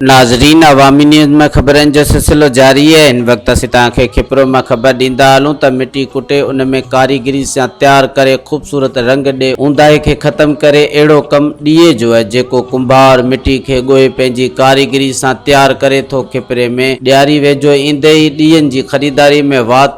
ناظرين عوامي نيوز ۾ خبرن جو سلسلو جاري آهي هن وقت اسين توهان کي کپرو ۾ خبر ڏيندا هلون ته مٽي ڪٽي ان ۾ ڪاريگري سان تيار ڪري خوبصورت رنگ ڏي اونداهي کي ختم ڪري اهڙو ڪم ڏيئي جو آهي جيڪو ڪنڀار مٽي کي ڳوهي پنهنجي ڪاريگري سان تيار ڪري ٿو کپري ۾ ڏياري ويجهو ايندي ئي ڏيئن جي خريداري ۾ وات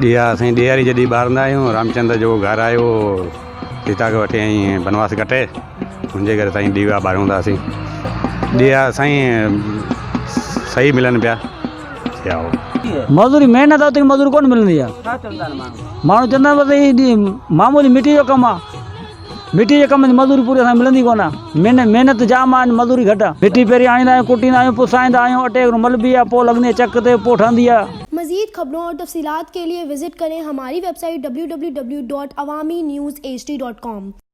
ڏيئا سائين ڏياري جڏهن ٻارندا آهيون رامچندر جو گهر آيو هو سيتا کي وٺي ائين بنواس ڪٽي انجي ڪري سائين ڏيئا ٻاريون ٿا اسين ڏيئا سائين سهي ملن پيا مزوري محنت اوتري مزوري ڪونه ملندي آهي ماڻهو چوندا آهن بس هي معمولي مٽي جو ڪم آهي مٽي جي ڪم ۾ مزوري پوري اسان کي ملندي ڪونه. مين محنت جام آهي ۽ مزوري گهٽ آهي. مٽي پهرين آڻيندا آهيون، ڪٽيندا آهيون، پسائيندا آهيون، اٽي وانگر ملبي آهي، پوء لڳندي آهي چڪ تي، پوء ٺهندي آهي. مزيد خبرون اور تفصيلات کے ليے وزٽ کرين ھماري ويب سائيٽ www.awaminews hd.com.